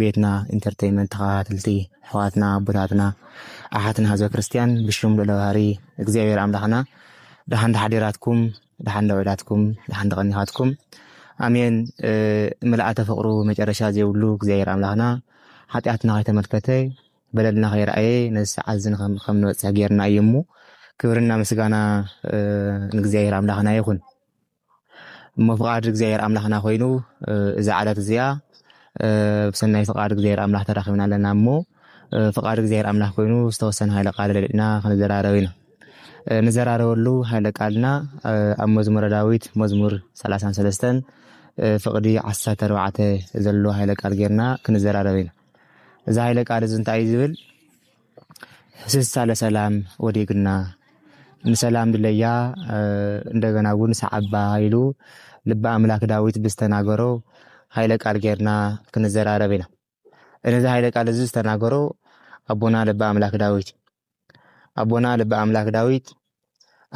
ቤትና ኢንተርተይመንት ተኸታተልቲ ኣሕዋትና ኣቦታትና ኣሓትና ህዝበ ክርስትያን ብሽም ልዑለ ባህሪ እግዚኣብሔር ኣምላኽና ደሓን ተሓዲራትኩም ደሓን ደውዒላትኩም ደሓን ተቐኒኻትኩም ኣሜን ምልኣተ ፍቕሩ መጨረሻ ዘይብሉ እግዚኣብሔር ኣምላኽና ሓጢኣትና ከይተመልከተ በለልና ከይረኣየ ነዚ ሰዓት እዚ ከም ንበፅሕ ጌርና እዩ እሞ ክብርና ምስጋና ንእግዚኣብሔር ኣምላኽና ይኹን እሞ ፍቓድ እግዚኣብሔር ኣምላኽና ኮይኑ እዛ ዕለት እዚኣ ብሰናይ ፍቓድ እግዚኣብሔር ኣምላኽ ተራኺብና ኣለና እሞ ፍቓድ እግዚኣብሔር ኣምላኽ ኮይኑ ዝተወሰነ ሃይለ ቃል ለሊጥና ክንዘራረብ ኢና ንዘራረበሉ ሃይለ ቃልና ኣብ መዝሙረ ዳዊት መዝሙር 33 ፍቕዲ 14 ዘሎ ሃይለ ቃል ጌርና ክንዘራረብ ኢና እዚ ሃይለ ቃል እዚ እንታይ እዩ ዝብል ሕስሳ ለሰላም ወዴግና ንሰላም ድለያ እንደገናውን ሰዓባ ኢሉ ልበ ኣምላክ ዳዊት ብዝተናገሮ ኃይለ ቃል ጌርና ክንዘራረብ ኢና። እነዚ ኃይለ ቃል እዚ ዝተናገሮ ኣቦና ልበ ኣምላክ ዳዊት ኣቦና ልበ ኣምላክ ዳዊት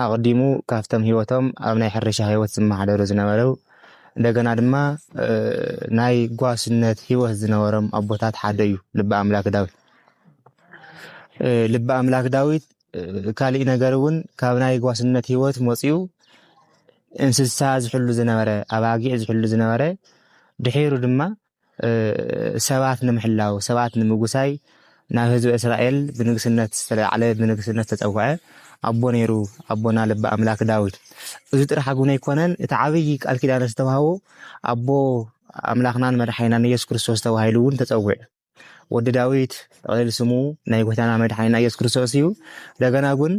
ኣቅዲሙ ካብቶም ሂወቶም ኣብ ናይ ሕርሻ ሂወት ዝመሓደሩ ዝነበረው እንደገና ድማ ናይ ጓስነት ሂወት ዝነበሮም ኣቦታት ሓደ እዩ ልቢ ኣምላክ ዳዊት ልቢ ኣምላክ ዳዊት ካልእ ነገር እውን ካብ ናይ ጓስነት ሂወት መፅኡ እንስሳ ዝሕሉ ዝነበረ ኣባጊዕ ዝሕሉ ዝነበረ ድሒሩ ድማ ሰባት ንምሕላው፣ ሰባት ንምጉሳይ ናብ ህዝበ እስራኤል ብንግስነት ዝተለዓለ፣ ብንግስነት ዝተጸውዐ ኣቦ ነይሩ፣ ኣቦና ልበ ኣምላክ ዳዊት። እዚ ጥራሕ ግን ኣይኮነን፣ እቲ ዓብዪ ቃል ኪዳን ዝተዋህቦ ኣቦ ኣምላኽናን መድሓኒናን ኢየሱስ ክርስቶስ ተባሂሉ እውን ተጸዊዑ። ወዲ ዳዊት ጥቕልል ስሙ ናይ ጎይታና መድሓኒና ኢየሱስ ክርስቶስ እዩ። እንደገና ግን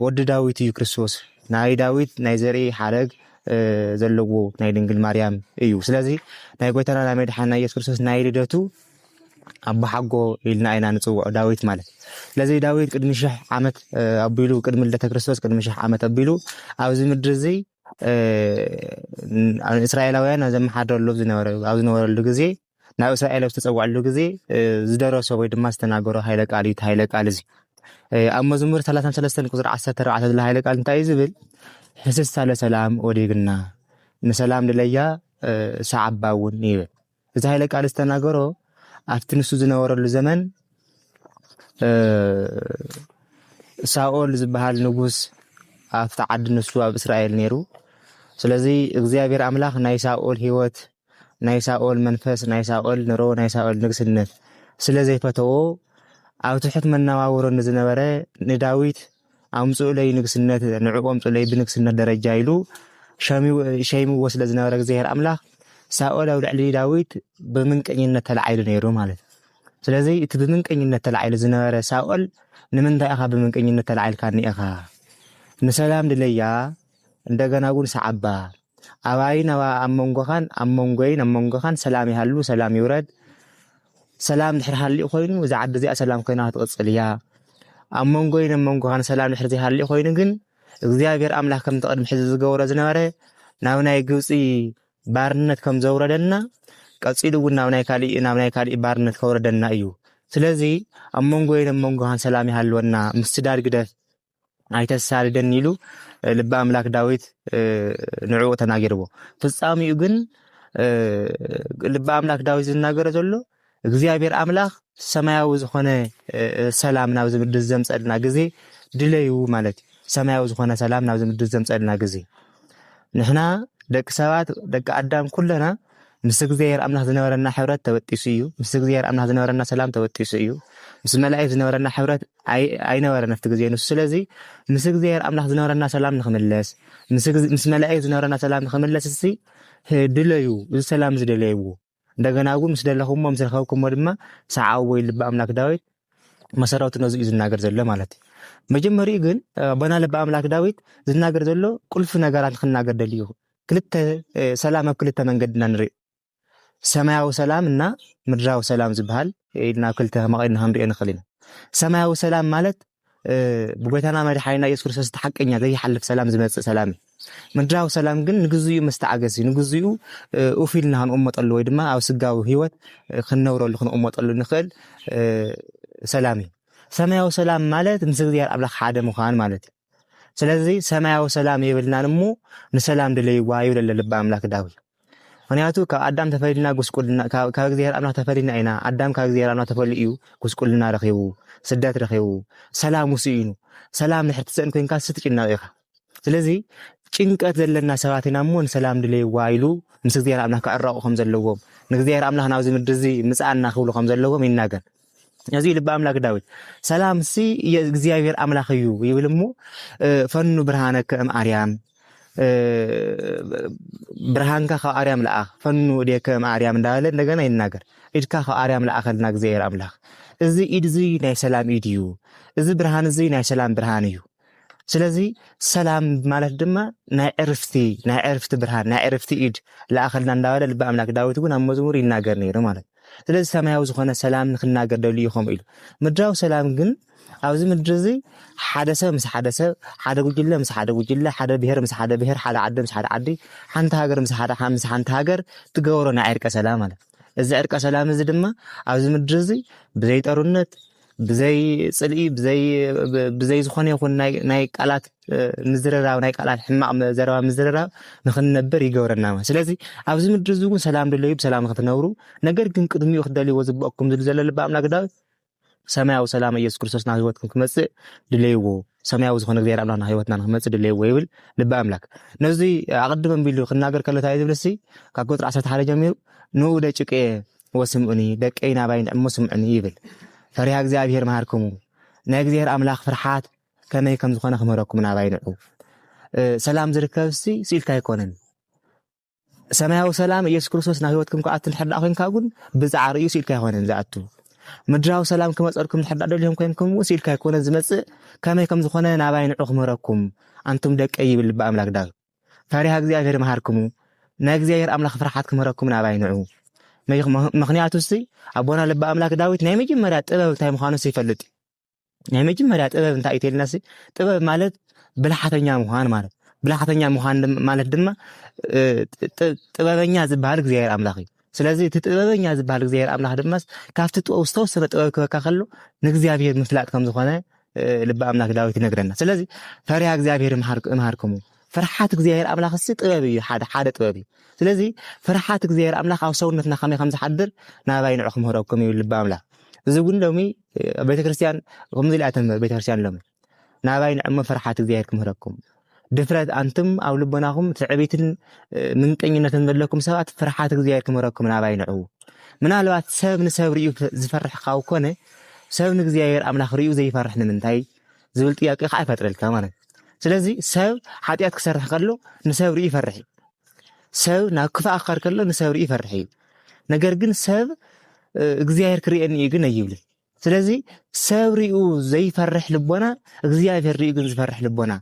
ወዲ ዳዊት እዩ ክርስቶስ ናይ ዳዊት ናይ ዘርኢ ሓረግ ዘለዎ ናይ ድንግል ማርያም እዩ ስለዚ ናይ ጎይታና ናይ መድሓና ኢየሱስ ክርስቶስ ናይ ልደቱ ኣቦሓጎ ኢልና ኢና ንፅውዖ ዳዊት ማለት ስለዚ ዳዊት ቅድሚ ሽሕ ዓመት ኣቢሉ ቅድሚ ልደተ ክርስቶስ ቅድሚ ሽሕ ዓመት ኣቢሉ ኣብዚ ምድሪ እዚ እስራኤላውያን ኣብ ዘመሓደረሉ ኣብዚ ዝነበረሉ ግዜ ናብ እስራኤል ኣብ ዝተጸውዐሉ ግዜ ዝደረሶ ወይ ድማ ዝተናገሮ ሃይለ ቃል እዩ። እቲ ሃይለ ቃል እዚ ኣብ መዝሙር 33 ቁጽሪ 14 ዘሎ ሃይለ ቃል እንታይ እዩ ዝብል? ሕስሳ ለሰላም ወዲግና ንሰላም ድለያ ሰዓባ እውን ይብል። እዚ ሃይለ ቃል ዝተናገሮ ኣብቲ ንሱ ዝነበረሉ ዘመን ሳኦል ዝበሃል ንጉስ ኣብቲ ዓዲ ንሱ ኣብ እስራኤል ነይሩ። ስለዚ እግዚኣብሔር ኣምላኽ ናይ ሳኦል ህይወት ናይ ሳኦል መንፈስ፣ ናይ ሳኦል ንሮ፣ ናይ ሳኦል ንግስነት ስለ ዘይፈተዎ፣ ኣብ ትሑት መነባብሮ ንዝነበረ ንዳዊት ኣምጽኡለይ ንግስነት፣ ንዕኡ ኣምጽኡለይ ብንግስነት ደረጃ ኢሉ ሸይምዎ ስለ ዝነበረ እግዚኣብሔር ኣምላኽ ሳኦል ኣብ ልዕሊ ዳዊት ብምንቀኝነት ተላዒሉ ነይሩ ማለት እዩ። ስለዚ እቲ ብምንቀኝነት ተላዒሉ ዝነበረ ሳኦል ንምንታይ ኢኻ ብምንቀኝነት ተላዒልካኒ ኢኻ? ንሰላም ድለያ እንደገና እውን ሰዓባ ኣባይን ኣባ ኣብ መንጎኻን ኣብ መንጎይን ኣብ መንጎኻን ሰላም ይሃሉ ሰላም ይውረድ ሰላም ድሕሪ ሃሊኡ ኮይኑ እዛ ዓዲ እዚኣ ሰላም ኮይና ክትቕፅል እያ ኣብ መንጎይን ኣብ መንጎኻን ሰላም ድሕሪ ዘይሃሊኡ ኮይኑ ግን እግዚኣብሔር ኣምላክ ከምቲ ቅድሚ ሕዚ ዝገብሮ ዝነበረ ናብ ናይ ግብፂ ባርነት ከም ዘውረደና ቀፂሉ እውን ናብ ናይ ካሊእ ናብ ናይ ካሊእ ባርነት ከውረደና እዩ ስለዚ ኣብ መንጎይን ኣብ መንጎኻን ሰላም ይሃልወና ምስዳድ ግደፍ ኣይተሳድደኒ ኢሉ ልቢ ኣምላክ ዳዊት ንዕኡ ተናጊርዎ ፍጻሚኡ ግን ልቢ ኣምላክ ዳዊት ዝናገረ ዘሎ እግዚኣብሔር ኣምላክ ሰማያዊ ዝኾነ ሰላም ናብዚ ምድር ዘምፀልና ግዜ ድለዩ ማለት እዩ ሰማያዊ ዝኾነ ሰላም ናብዚ ምድር ዘምፀልና ግዜ ንሕና ደቂ ሰባት ደቂ ኣዳም ኩለና ምስ እግዚኣብሔር ኣምላክ ዝነበረና ሕብረት ተበጢሱ እዩ ምስ እግዚኣብሔር ኣምላክ ዝነበረና ሰላም ተበጢሱ እዩ ምስ መላእክት ዝነበረና ሕብረት ኣይነበረን ኣብቲ ግዜ ንሱ ስለዚ ምስ እግዚኣብሔር ኣምላኽ ዝነበረና ሰላም ንክምለስ ምስ መላእክት ዝነበረና ሰላም ንክምለስ እስቲ ድለዩ እዚ ሰላም እዚ ደለይዎ እንደገና እውን ምስ ደለኹሞ ምስ ረኸብኩሞ ድማ ሰዓብዎ ኢሉ ልቢ ኣምላክ ዳዊት መሰረቱ ነዚ እዩ ዝናገር ዘሎ ማለት እዩ መጀመሪኡ ግን ኣቦና ልቢ ኣምላክ ዳዊት ዝናገር ዘሎ ቁልፊ ነገራት ንክናገር ደልዩ ክልተ ሰላም ኣብ ክልተ መንገድና ንርኢ ሰማያዊ ሰላም እና ምድራዊ ሰላም ዝበሃል ኢልና ኣብ ክልተ መቒልና ክንሪኦ ንኽእል ኢና። ሰማያዊ ሰላም ማለት ብጎይታና መድሓኒና ኢየሱስ ክርስቶስ ሓቀኛ ዘይሓልፍ ሰላም ዝመጽእ ሰላም እዩ። ምድራዊ ሰላም ግን ንግዚኡ መስተዓገሲ ንግዚኡ ኡፍ ኢልና ክንቕመጠሉ ወይ ድማ ኣብ ስጋዊ ህይወት ክንነብረሉ ክንቕመጠሉ ንኽእል ሰላም እዩ። ሰማያዊ ሰላም ማለት ምስ እግዚኣብሔር ኣምላኽ ሓደ ምዃን ማለት እዩ። ስለዚ ሰማያዊ ሰላም የብልናን እሞ ንሰላም ድለይዋ ይብል ኣሎ ልቢ ኣምላክ ዳዊት። ምክንያቱ ካብ ኣዳም ተፈሊልና ጉስቁልና ካብ እግዚኣብሔር ኣምላክ ተፈሊና ኢና። ኣዳም ካብ እግዚኣብሔር ኣምላክ ተፈልዩ እዩ ጉስቁልና ረኺቡ፣ ስደት ረኺቡ፣ ሰላም ውስኢኑ። ሰላም ንሕርቲ ሰእን ኮንካ ስትጭነቕ ኢኻ። ስለዚ ጭንቀት ዘለና ሰባት ኢና እሞ ንሰላም ድለይዋ ኢሉ ምስ እግዚኣብሔር ኣምላክ ክዕረቑ ከም ዘለዎም ንእግዚኣብሔር ኣምላክ ናብዚ ምድሪ እዚ ምፅኣና ክብሉ ከም ዘለዎም ይናገር። እዚ ልቢ ኣምላክ ዳዊት ሰላም ሲ እግዚኣብሔር ኣምላክ እዩ ይብል እሞ ፈኑ ብርሃነ ከእም ኣርያም ብርሃንካ ካብ ኣርያም ለኣኽ ፈኑ እዴ ከእም ኣርያም እንዳለ እንደገና ይናገር ኢድካ ካብ ኣርያም ለኣኸልና እግዚኣብሔር ኣምላክ እዚ ኢድ እዚ ናይ ሰላም ኢድ እዩ እዚ ብርሃን እዚ ናይ ሰላም ብርሃን እዩ ስለዚ ሰላም ማለት ድማ ናይ ዕርፍቲ ናይ ዕርፍቲ ብርሃን ናይ ዕርፍቲ ኢድ ለኣኸልና እንዳበለ ልቢ ኣምላክ ዳዊት እውን ኣብ መዝሙር ይናገር ነይሩ ማለት ስለዚ ሰማያዊ ዝኾነ ሰላም ንክናገር ደልዩ ከምኡ ኢሉ ምድራዊ ሰላም ግን ኣብዚ ምድሪ እዚ ሓደ ሰብ ምስ ሓደ ሰብ ሓደ ጉጅለ ምስ ሓደ ጉጅለ ሓደ ብሄር ምስ ሓደ ብሄር ሓደ ዓዲ ምስ ሓደ ዓዲ ሓንቲ ሃገር ምስ ሓደ ምስ ሓንቲ ሃገር ትገብሮ ናይ ዕርቀ ሰላም ማለት እዚ ዕርቀ ሰላም እዚ ድማ ኣብዚ ምድሪ እዚ ብዘይ ጠሩነት ብዘይ ፅልኢ ብዘይ ዝኾነ ይኹን ናይ ቃላት ምዝርራብ ናይ ቃላት ሕማቕ ዘረባ ምዝርራብ ንክንነብር ይገብረና ማለት ስለዚ ኣብዚ ምድሪ እዚ እውን ሰላም ድለዩ ብሰላም ንክትነብሩ ነገር ግን ቅድሚኡ ክደልይዎ ዝግበኣኩም ዝሉ ዘሎ ልቢ ኣምላክ ዳዊት ሰማያዊ ሰላም ኢየሱስ ክርስቶስ ናብ ህይወትኩም ክመጽእ ድለይዎ ሰማያዊ ዝኾነ እግዚኣብሔር ኣምላክ ናብ ህይወትና ንክመጽእ ድለይዎ ይብል ልቢ ኣምላክ ነዚ ኣቐድመ ቢሉ ክናገር ከሎ እንታይ ዝብል ሲ ካብ ቁጥሪ ዓሰርተ ሓደ ጀሚሩ ንኡ ደጭቅየ ወስምዑኒ ደቀይ ናባይ ንዕሞ ስምዑኒ ይብል ፈሪሃ እግዚኣብሔር መሃርክሙ ናይ እግዚኣብሔር ኣምላክ ፍርሓት ከመይ ከም ዝኾነ ክምህረኩም ናባይ ንዑ። ሰላም ዝርከብ ሲ ስኢልካ ኣይኮነን። ሰማያዊ ሰላም ኢየሱስ ክርስቶስ ናብ ህይወትኩም ክኣቱ እንድሕር ደኣ ኮንካ እውን ብዛዕባ ርእዩ ስኢልካ ኣይኮነን ዝኣቱ። ምድራዊ ሰላም ክመፀልኩም እንድሕር ደኣ ደልዮም ኮንኩም እውን ስኢልካ ኣይኮነን ዝመፅእ ከመይ ከም ዝኾነ ናባይ ንዑ ክምህረኩም ኣንቱም ደቀ ይብል ልቢ ኣምላክ ዳግ ፈሪሃ እግዚኣብሔር መሃርክሙ ናይ እግዚኣብሔር ኣምላኽ ፍርሓት ክምህረኩም ናባይ ንዑ ምክንያቱ ሲ ኣቦና ልቢ ኣምላክ ዳዊት ናይ መጀመርያ ጥበብ እንታይ ምዃኑ ይፈልጥ እዩ ናይ መጀመርያ ጥበብ እንታይ እዩ ተልና ጥበብ ማለት ብልሓተኛ ምዃን ማለት ብልሓተኛ ምዃን ማለት ድማ ጥበበኛ ዝበሃል እግዚኣብሔር ኣምላኽ እዩ ስለዚ እቲ ጥበበኛ ዝበሃል እግዚኣብሔር ኣምላኽ ድማ ካብቲ ጥበብ ዝተወሰነ ጥበብ ክበካ ከሎ ንእግዚኣብሔር ምፍላጥ ከም ዝኾነ ልቢ ኣምላኽ ዳዊት ይነግረና ስለዚ ፈሪሃ እግዚኣብሔር እምሃርክሙ ፍርሓት እግዚኣብሔር ኣምላኽ ሲ ጥበብ እዩ ሓደ ሓደ ጥበብ እዩ ስለዚ ፍርሓት እግዚኣብሔር ኣምላኽ ኣብ ሰውነትና ከመይ ከም ዝሓድር ናባይ ንዑ ክምህረኩም ይብል ልቢ ኣምላኽ እዚ እውን ሎሚ ቤተክርስትያን ከምዚ ኢላ ተምህር ቤተክርስትያን ሎሚ ናባይ ንዕሞ ፍርሓት እግዚኣብሔር ክምህረኩም ድፍረት ኣንቱም ኣብ ልቦናኹም ትዕቢትን ምንቀኝነትን ዘለኩም ሰባት ፍርሓት እግዚኣብሔር ክምህረኩም ናባይ ንዑ ምናልባት ሰብ ንሰብ ርዩ ዝፈርሕ ካብ ኮነ ሰብ ንእግዚኣብሔር ኣምላኽ ርዩ ዘይፈርሕ ንምንታይ ዝብል ጥያቄ ከዓ ይፈጥረልካ ማለት እዩ ስለዚ ሰብ ሓጢኣት ክሰርሕ ከሎ ንሰብ ርዩ ይፈርሕ እዩ ሰብ ናብ ክፋእ ክኸድ ከሎ ንሰብ ርኢ ይፈርሕ እዩ ነገር ግን ሰብ እግዚኣብሔር ክርእየኒ እዩ ግን ኣይብልን ስለዚ ሰብ ሪኡ ዘይፈርሕ ልቦና እግዚኣብሔር ሪኡ ግን ዝፈርሕ ልቦና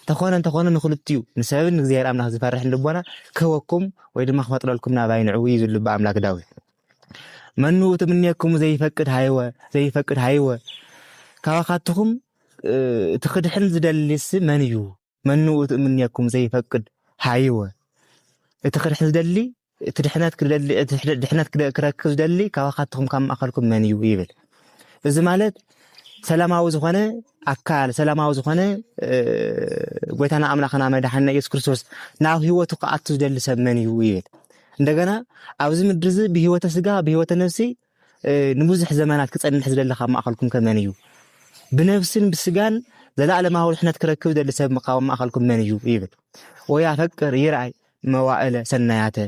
ተኾነ እንተኾነ ንክልትኡ ንሰብን ንእግዚኣብሔር ኣምላኽ ዝፈርሕን ልቦና ክህበኩም ወይ ድማ ክፈጥረልኩም ናባይ ንዕኡ እዩ ዝብሉ ብኣምላክ ዳዊት መኑ ትምኔክሙ ዘይፈቅድ ሃይወ ዘይፈቅድ ሃይወ ካባኻትኹም እቲ ክድሕን ዝደልስ መን እዩ መኑ እቲ እምኔኩም ዘይፈቅድ ሃይወ እቲ ክድሕን ዝደሊ እቲ ድሕነት ክደሊ እቲ ድሕነት ክረክብ ዝደሊ ካባካትኩም ካብ ማእከልኩም መን እዩ ይብል እዚ ማለት ሰላማዊ ዝኾነ ኣካል ሰላማዊ ዝኾነ ጎይታና ኣምላኽና መድሓና ኢየሱስ ክርስቶስ ናብ ህይወቱ ክኣቱ ዝደሊ ሰብ መን እዩ ይብል እንደገና ኣብዚ ምድሪ እዚ ብህይወተ ስጋ ብህይወተ ነፍሲ ንብዙሕ ዘመናት ክጸንሕ ዝደሊ ካብ ማእከልኩም ከ መን እዩ? ብነፍስን ብስጋን ዘለኣለማዊ ድሕነት ክረክብ ዝደሊ ሰብ ካብ ማእከልኩም መን እዩ? ይብል። ወያፈቅር ይርኣይ መዋእለ ሰናያተ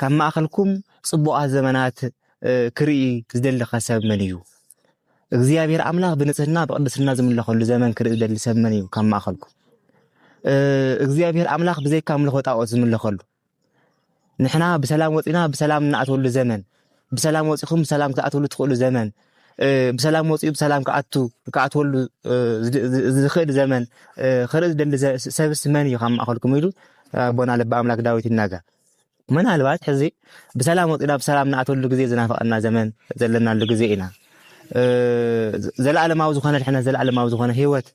ካብ ማእከልኩም ጽቡቓት ዘመናት ክርኢ ዝደሊ ከ ሰብ መን እዩ? እግዚኣብሔር ኣምላኽ ብንጽህና ብቅድስና ዝምለኸሉ ዘመን ክርኢ ዝደሊ ሰብ መን እዩ ካብ ማእከልኩም? እግዚኣብሔር ኣምላኽ ብዘይካ ኣምልኾ ጣዖት ዝምለኸሉ ንሕና ብሰላም ወፂና ብሰላም እንኣተሉ ዘመን ብሰላም ወፂኹም ብሰላም ክትኣትሉ ትኽእሉ ዘመን ብሰላም ወፂኡ ብሰላም ክኣቱ ክኣትወሉ ዝኽእል ዘመን ክርኢ ዝደሊ ሰብስ መን እዩ ካብ ማእኸልኩም ኢሉ ኣቦና ልቢ ኣምላክ ዳዊት ይናገር። ምናልባት ሕዚ ብሰላም ወፂና ብሰላም ንኣተሉ ግዜ ዝናፈቐና ዘመን ዘለናሉ ግዜ ኢና። ዘለኣለማዊ ዝኾነ ድሕነት ዘለኣለማዊ ዝኾነ ሂወት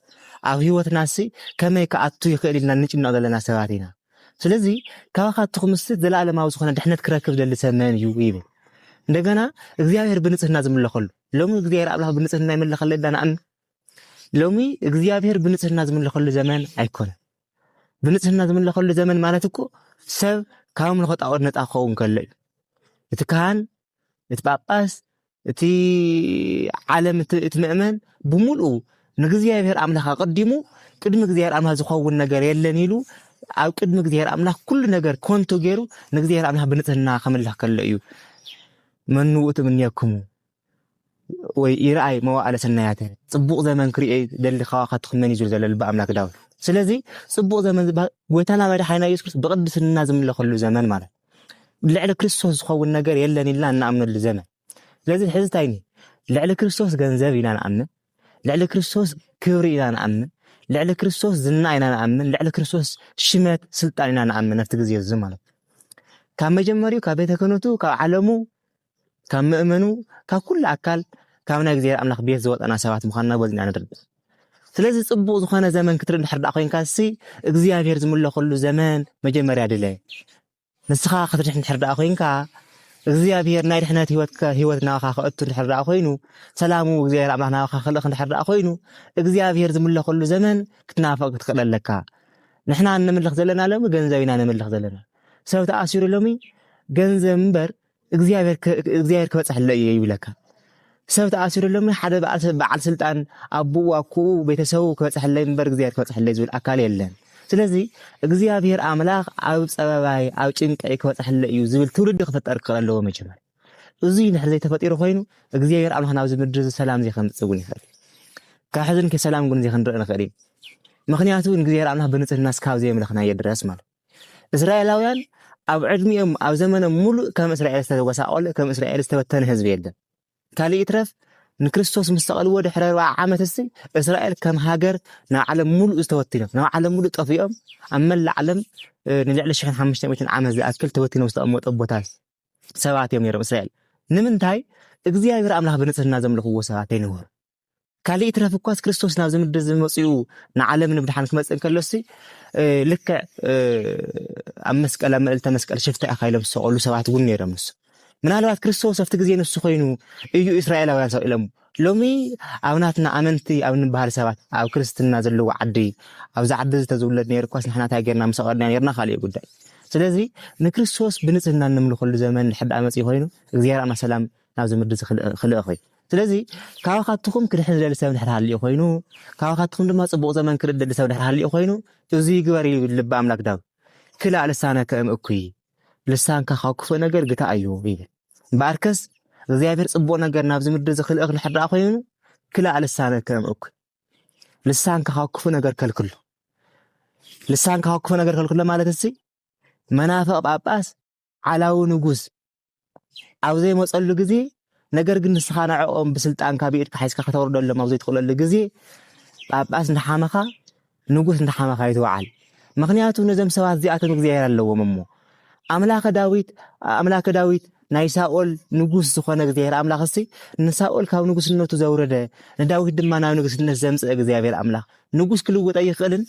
ኣብ ሂወትና ሲ ከመይ ክኣቱ ይኽእል ኢልና ንጭነቕ ዘለና ሰባት ኢና። ስለዚ ካባኻ እትኹምስት ዘለኣለማዊ ዝኾነ ድሕነት ክረክብ ዝደሊ ሰብ መን እዩ ይብል። እንደገና እግዚኣብሔር ብንጽህና ዝምለኸሉ ሎሚ እግዚኣብሔር ኣምላኽ ብንጽህና ይምለኸሉ ዳ ንኣምን ሎሚ እግዚኣብሔር ብንጽህና ዝምለኸሉ ዘመን ኣይኮነ። ብንጽህና ዝምለኸሉ ዘመን ማለት እኮ ሰብ ካብ ኣምልኾ ጣዖት ነፃ ክኸውን ከሎ እዩ። እቲ ካህን እቲ ጳጳስ እቲ ዓለም እቲ ምእመን ብምልኡ ንእግዚኣብሔር ኣምላኽ ኣቐዲሙ ቅድሚ እግዚኣብሔር ኣምላኽ ዝኸውን ነገር የለን ኢሉ ኣብ ቅድሚ እግዚኣብሔር ኣምላኽ ኩሉ ነገር ኮንቶ ገይሩ ንእግዚኣብሔር ኣምላኽ ብንጽህና ከምልኽ ከሎ እዩ መኑ ውእቱ እምኔክሙ ወይ ይርኣይ መዋእለ ሰናያተ ጽቡቅ ዘመን ክርእዮ ደሊ ከዋካቱ ክመን ይዙር ዘሎ ልቢ ኣምላክ ዳዊት ስለዚ ጽቡቅ ዘመን ዝበሃል ጎይታና መድሓኒና ኢየሱስ ክርስቶስ ብቅድስና ዝምለከሉ ዘመን ማለት ልዕሊ ክርስቶስ ዝኸውን ነገር የለን ኢልና እናኣምነሉ ዘመን ስለዚ ሕዚ እንታይ ልዕሊ ክርስቶስ ገንዘብ ኢና ንኣምን ልዕሊ ክርስቶስ ክብሪ ኢና ንኣምን ልዕሊ ክርስቶስ ዝና ኢና ንኣምን ልዕሊ ክርስቶስ ሽመት ስልጣን ኢና ንኣምን ኣብቲ ግዜ እዚ ማለት ካብ መጀመሪኡ ካብ ቤተ ክህነቱ ካብ ዓለሙ ካብ መእመኑ ካብ ኩሉ ኣካል ካብ ናይ እግዚኣብሔር ኣምላኽ ቤት ዝወፀና ሰባት ምዃንና በዚ ኢና ንርድእ። ስለዚ ጽቡቕ ዝኾነ ዘመን ክትርኢ እንድሕር ደኣ ኮይንካ ሲ እግዚኣብሔር ዝምለኸሉ ዘመን መጀመርያ ድለ። ንስኻ ክትድሕን እንድሕር ደኣ ኮይንካ እግዚኣብሔር ናይ ድሕነት ህይወት ህይወት ናባኻ ክእቱ እንድሕር ደኣ ኮይኑ ሰላሙ እግዚኣብሔር ኣምላኽ ናባኻ ክልእኽ እንድሕር ደኣ ኮይኑ እግዚኣብሔር ዝምለኸሉ ዘመን ክትናፍቕ ክትክእል ኣለካ ንሕና እንምልኽ ዘለና ሎሚ ገንዘብ ኢና ንምልኽ ዘለና ሰብ ተኣሲሩ ሎሚ ገንዘብ እምበር እግዚኣብሔር ክበፅሐለ እየ ይብለካ ሰብ ተኣሲሩሎም ሓደ በዓል ስልጣን ኣቦኡ ኣኩኡ ቤተሰቡ ክበፅሐለይ እምበር እግዚኣብሔር ክበፅሐለይ ዝብል ኣካል የለን ስለዚ እግዚኣብሔር ኣምላኽ ኣብ ፀበባይ ኣብ ጭንቀይ ክበፅሐለ እዩ ዝብል ትውልዲ ክፍጠር ክኽእል ኣለዎ መጀመር እዚ ድሕሪ ዘይተፈጢሩ ኮይኑ እግዚኣብሔር ኣምላኽ ናብዚ ምድሪ እዚ ሰላም ዘይከምፅእ እውን ይኽእል ካብ ሕዚ ሰላም ግን ዘይክንርኢ ንኽእል እዩ ምክንያቱ ንእግዚኣብሔር ኣምላኽ ብንፅህና ስካብ ዘየምለኽናዮ ድረስ ማለት እስራኤላውያን ኣብ ዕድሚኦም ኣብ ዘመኖም ሙሉእ ከም እስራኤል ዝተጎሳቆለ ከም እስራኤል ዝተበተነ ህዝቢ የለን ካልእ ይትረፍ ንክርስቶስ ምስ ሰቐልዎ ድሕሪ ኣርብዓ ዓመት እሲ እስራኤል ከም ሃገር ናብ ዓለም ሙሉእ ዝተወቲኖም ናብ ዓለም ሙሉእ ጠፊኦም ኣብ መላእ ዓለም ንልዕሊ ሽሕን ሓሙሽተ ሚእትን ዓመት ዝኣክል ተወቲኖም ዝተቐመጡ ቦታት ሰባት እዮም ነይሮም እስራኤል ንምንታይ እግዚኣብሔር ኣምላኽ ብንጽህና ዘምልኽዎ ሰባት ኣይነበሩ ካልእ ይትረፍ እኳስ ክርስቶስ ናብዚ ምድሪ እዚ መፅኡ ንዓለም ንምድሓን ክመፅእ እንከሎሲ ልክዕ ኣብ መስቀል ኣብ ምዕልተ መስቀል ሽፍታ ኢኻ ኢሎም ዝሰቐሉ ሰባት እውን ነይሮም ንሱ ምናልባት ክርስቶስ ኣብቲ ግዜ ንሱ ኮይኑ እዩ እስራኤላውያን ሰቂሎም ሎሚ ኣብ ናትና ኣመንቲ ኣብ ንበሃል ሰባት ኣብ ክርስትና ዘለዎ ዓዲ ኣብዚ ዓዲ እዚ ተዝውለድ ነይሩ እኳስ ንሕና እንታይ ጌርና ምሰቐድና ነርና ካልእ ጉዳይ ስለዚ ንክርስቶስ ብንፅህና እንምልኸሉ ዘመን ሕዳእ መፅኢ ኮይኑ እግዚኣብሔር ኣና ሰላም ናብ ዝምርዲ ዝክልእ እኹይ ስለዚ ካባኻትኹም ክድሕን ዝደሊ ሰብ ድሕር ሃልዩ ኮይኑ ካባኻትኹም ድማ ጽቡቕ ዘመን ክርኢ ዝደሊ ሰብ ድሕር ሃልዩ ኮይኑ እዚ ይግበር እዩ ልቢ ኣምላክ ዳብ ክላእ ልሳነ ከእም እኩይ ልሳንካ ካብ ክፉእ ነገር ግታ እዩ ይብል እምበኣርከስ እግዚኣብሔር ጽቡቕ ነገር ናብ ዝምድር ዝክልእኽ ድሕር ደኣ ኮይኑ ክላእ ልሳነ ከእም እኩይ ልሳንካ ካብ ክፉእ ነገር ከልክሎ ልሳንካ ካብ ክፉእ ነገር ከልክሎ ማለት እዚ መናፍቕ ጳጳስ ዓላዊ ንጉስ ኣብ ዘይመጸሉ ግዜ ነገር ግን ንስኻ ንዕኦም ብስልጣንካ ብኢድካ ሓዝካ ከተውርደሎም ኣብ ዘይትኽእለሉ ግዜ ጳጳስ እንዳሓመኻ ንጉስ እንዳሓመኻ ይትውዓል ምክንያቱ ነዞም ሰባት እዚኣቶም እግዚኣብሔር ኣለዎም እሞ ኣምላከ ዳዊት ኣምላከ ዳዊት ናይ ሳኦል ንጉስ ዝኾነ እግዚኣብሔር ኣምላኽ እሲ ንሳኦል ካብ ንጉስነቱ ዘውረደ ንዳዊት ድማ ናብ ንግስነት ዘምፅእ እግዚኣብሔር ኣምላኽ ንጉስ ክልውጠ ይኽእልን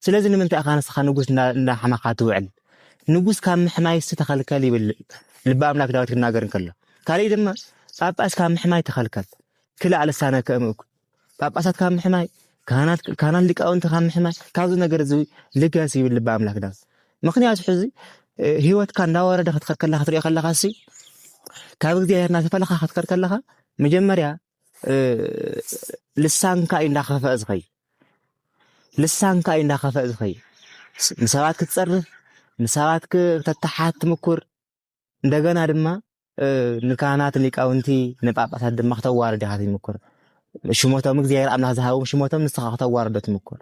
ስለዚ ንምንታይ ኢኻ ንስኻ ንጉስ እንዳሓመኻ ትውዕል ንጉስ ካብ ምሕማይስ ተኸልከል ይብል ልቢ ኣምላክ ዳዊት ክናገር እንከሎ፣ ካልእ ድማ ጳጳስ ካብ ምሕማይ ተኸልከል ክላዕ ልሳነ ከእምእኩ ጳጳሳት ካብ ምሕማይ ካህናት ካህናት ሊቃውንቲ ካብ ምሕማይ ካብዚ ነገር እዚ ልገስ ይብል ልቢ ኣምላክ ዳዊት። ምክንያቱ ሕዚ ህይወትካ እንዳወረደ ክትከድ ከለካ ክትሪኦ ከለካ ሲ ካብ እግዚኣብሔር እናተፈለካ ክትከድ ከለካ መጀመርያ ልሳንካ እዩ እንዳኸፈእ ዝኸይ ልሳንካ እዩ እንዳኸፈእ ዝኸይ ንሰባት ክትጸርፍ ንሰባት ክተተሓት ትምኩር እንደገና ድማ ንካህናት ሊቃውንቲ ንጳጳሳት ድማ ክተዋርድ ኢኻ ትምኩር ሽሞቶም እግዚኣብሔር ኣምላኽ ዝሃቦም ሽሞቶም ንስኻ ክተዋርዶ ትምኩር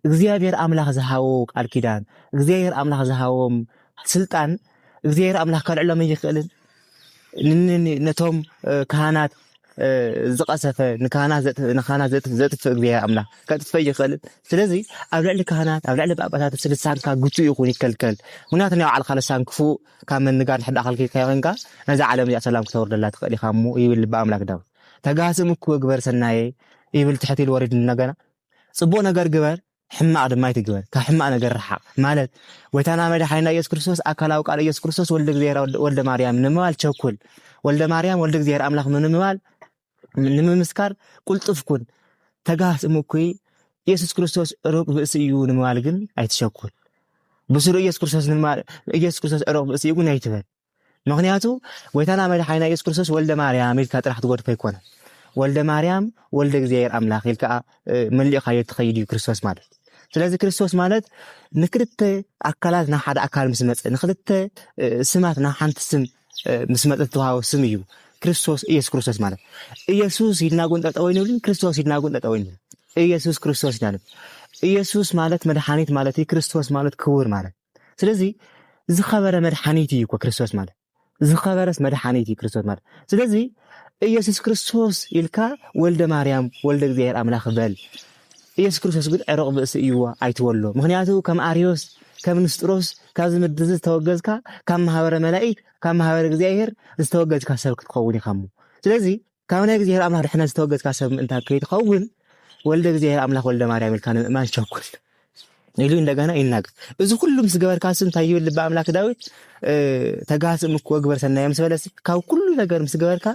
እግዚኣብሔር ኣምላኽ ዝሃቦ ቃል ኪዳን እግዚኣብሔር ኣምላኽ ዝሃቦም ስልጣን እግዚኣብሔር ኣምላኽ ከልዕሎም ኣይኽእልን ነቶም ካህናት ዝቐሰፈ ንካህናት ዘጥፍእ እግዚኣብሔር ኣምላኽ ከጥፍእ ይኽእል ስለዚ ኣብ ልዕሊ ካህናት ኣብ ልዕሊ ጳጳሳት ስልሳንካ ግቱእ ይኹን ይከልከል ምክንያቱ ናይ ባዕልካ ልሳን ክፉእ ካብ ምንጋር ንሕዳ ከልኪልካ ይኮንካ ነዛ ዓለም እዚኣ ሰላም ክተወርደላ ትኽእል ኢኻ እሞ ይብል ልቢ ኣምላክ ዳዊት ተጋስም እኩ ግበር ሰናየ ይብል ትሕት ኢሉ ወሪድ ነገና ጽቡቅ ነገር ግበር ሕማቅ ድማ ኣይትግበር ካብ ሕማቅ ነገር ርሓቅ ማለት ጎይታና መድሓኒና ኢየሱስ ክርስቶስ ኣካላዊ ቃል ኢየሱስ ክርስቶስ ወልደ እግዚኣብሔር ወልደ ማርያም ንምባል ቸኩል ወልደ ማርያም ወልደ እግዚኣብሔር ኣምላኽ ንምባል ንምምስካር ቁልጡፍ ኩን ተጋሃስ እምኩይ ኢየሱስ ክርስቶስ ሩቅ ብእሲ እዩ ንምባል ግን ኣይትሸኩል ብስሩ ኢየሱስ ክርስቶስ ንምባል ኢየሱስ ክርስቶስ ሩቅ ብእሲ እዩ ግን ኣይትበል ምክንያቱ ጎይታና መድሓኒና ኢየሱስ ክርስቶስ ወልደ ማርያም ኢልካ ጥራሕ ትጎድፎ ኣይኮነን ወልደ ማርያም ወልደ እግዚኣብሔር ኣምላኽ ኢልካ መሊእኻዮ ትኸይድ እዩ ክርስቶስ ማለት ስለዚ ክርስቶስ ማለት ንክልተ ኣካላት ናብ ሓደ ኣካል ምስ መፀ ንክልተ ስማት ናብ ሓንቲ ስም ምስ መፀ ዝተዋሃቦ ስም እዩ ክርስቶስ ኢየሱስ ክርስቶስ ማለት ኢየሱስ ኢልና ጉን ጠጠው ይንብልን ክርስቶስ ኢልና ጉን ጠጠው ይንብል ኢየሱስ ክርስቶስ ኢና ኢየሱስ ማለት መድሓኒት ማለት እዩ ክርስቶስ ማለት ክቡር ማለት ስለዚ ዝኸበረ መድሓኒት እዩ እኮ ክርስቶስ ማለት ዝኸበረስ መድሓኒት እዩ ክርስቶስ ማለት ስለዚ ኢየሱስ ክርስቶስ ኢልካ ወልደ ማርያም ወልደ እግዚኣብሔር ኣምላኽ በል ኢየሱስ ክርስቶስ ግን ዕሩቕ ብእሲ እዩዎ ኣይትበሎ ምክንያቱ ከም ኣርዮስ ከም ንስጥሮስ ካብዚ ምድሪ እዚ ዝተወገዝካ ካብ ማህበረ መላእክት ካብ ማህበረ እግዚኣብሔር ዝተወገዝካ ሰብ ክትኸውን ኢኻ እሞ ስለዚ ካብ ናይ እግዚኣብሔር ኣምላኽ ድሕነት ዝተወገዝካ ሰብ ምእንታ ከይትኸውን ወልደ እግዚኣብሔር ኣምላኽ ወልደ ማርያም ኢልካ ንምእማን ቸኩል ኢሉ እንደገና ይናገር። እዚ ኩሉ ምስ ገበርካ ስ እንታይ ይብል ልቢ ኣምላክ ዳዊት ተጋስእ ምክ ወግበር ሰናየ ምስ በለስ ካብ ኩሉ ነገር ምስ ገበርካ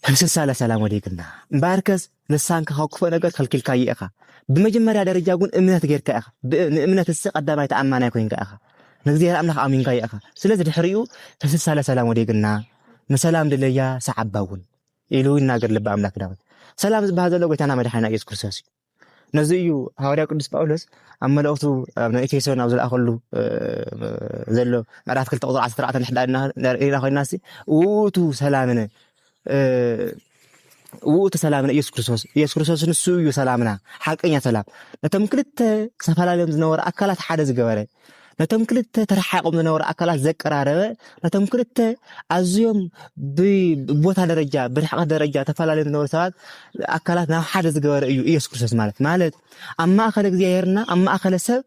ህምስሳ ለሰላም ወዲግና እምበኣርከስ ንሳንከ ካብ ክፉእ ነገር ከልኪልካዮ ኢኻ። ብመጀመርያ ደረጃ ጉን እምነት ጌርካ ኢኻ። ንእምነት እሲ ቀዳማይ ተኣማናይ ኮይንካ ኢኻ። ንእግዚኣብሔር ኣምላኽ ኣሚንካዮ ኢኻ። ስለዚ ድሕሪኡ ተስሳለ ሰላም ወዴግና ንሰላም ድለያ ሰዓባ እውን ኢሉ ይናገር ልቢ ኣምላክ ዳዊት። ሰላም ዝበሃል ዘሎ ጎይታና መድሓኒና ኢየሱስ ክርስቶስ እዩ። ነዚ እዩ ሃዋርያ ቅዱስ ጳውሎስ ኣብ መልእኽቱ ኣብ ናይ ኤፌሶን ኣብ ዝለኣኸሉ ዘሎ ምዕራፍ ክልተ ቁፅሪ ዓሰርተ ኣርባዕተ ንሕዳ ሪኢና ኮይና ውእቱ ሰላምነ ውእቱ ሰላምና ኢየሱስ ክርስቶስ ኢየሱስ ክርስቶስ ንሱ እዩ ሰላምና ሓቀኛ ሰላም ነቶም ክልተ ዝተፈላለዮም ዝነበሩ ኣካላት ሓደ ዝገበረ ነቶም ክልተ ተረሓቆም ዝነበሩ ኣካላት ዘቀራረበ ነቶም ክልተ ኣዝዮም ብቦታ ደረጃ ብርሕቀት ደረጃ ተፈላለዮም ዝነበሩ ሰባት ኣካላት ናብ ሓደ ዝገበረ እዩ ኢየሱስ ክርስቶስ ማለት ማለት ኣብ ማእኸለ እግዚኣብሔርና ኣብ ማእኸለ ሰብ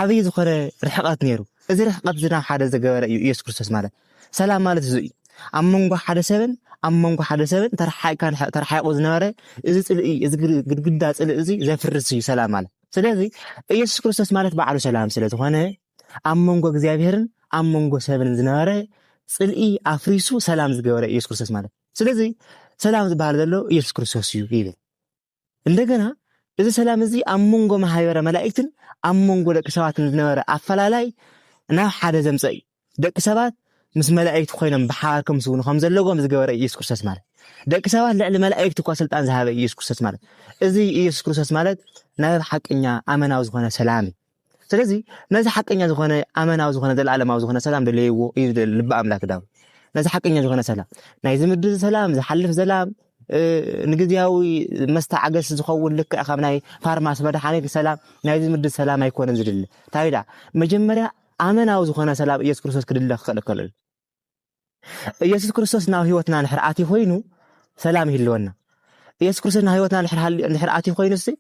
ዓብይ ዝኾነ ርሕቀት ነይሩ እዚ ርሕቀት እዚ ናብ ሓደ ዝገበረ እዩ ኢየሱስ ክርስቶስ ማለት ሰላም ማለት እዙይ እዩ። ኣብ መንጎ ሓደ ሰብን ኣብ መንጎ ሓደ ሰብን ተረሓቂካ ተረሓቂቁ ዝነበረ እዚ ፅልኢ እዚ ግድግዳ ፅልኢ እዚ ዘፍርስ እዩ ሰላም ማለት። ስለዚ ኢየሱስ ክርስቶስ ማለት ባዕሉ ሰላም ስለ ዝኾነ ኣብ መንጎ እግዚኣብሔርን ኣብ መንጎ ሰብን ዝነበረ ፅልኢ ኣፍሪሱ ሰላም ዝገበረ ኢየሱስ ክርስቶስ ማለት። ስለዚ ሰላም ዝበሃል ዘሎ ኢየሱስ ክርስቶስ እዩ ይብል። እንደገና እዚ ሰላም እዚ ኣብ መንጎ ማህበረ መላእክትን ኣብ መንጎ ደቂ ሰባትን ዝነበረ ኣፈላላይ ናብ ሓደ ዘምፀ እዩ ደቂ ሰባት ምስ መላእክቲ ኮይኖም ብሓባር ከምስውኑ ከም ዘለዎም ዝገበረ ኢየሱስ ክርስቶስ ማለት ደቂ ሰባት ልዕሊ መላእክቲ እኳ ስልጣን ዝሃበ ኢየሱስ ክርስቶስ ማለት እዚ ኢየሱስ ክርስቶስ ማለት ናይ ሓቀኛ ኣመናዊ ዝኾነ ሰላም እዩ ስለዚ ነዚ ሓቀኛ ዝኾነ ኣመናዊ ዝኾነ ዘለኣለማዊ ዝኾነ ሰላም ደለይዎ እዩ ዝደሊ ልቢ ኣምላክ ዳዊት ነዚ ሓቀኛ ዝኾነ ሰላም ናይዚ ምድሪ ሰላም ዝሓልፍ ሰላም ንግዜያዊ መስተዓገሲ ዝኸውን ልክዕ ካብ ናይ ፋርማሲ መድሓኒት ሰላም ናይዚ ምድሪ ሰላም ኣይኮነን ዝድሊ እንታይ መጀመርያ ኣመናዊ ዝኾነ ሰላም ኢየሱስ ክርስቶስ ክድለ ክኽእል ከሎ ኢየሱስ ክርስቶስ ናብ ህይወትና ንሕር ኣትዩ ኮይኑ ሰላም ይህልወና ኢየሱስ ክርስቶስ ናብ ህይወትና ንሕር ኣትዩ ኮይኑ ሲ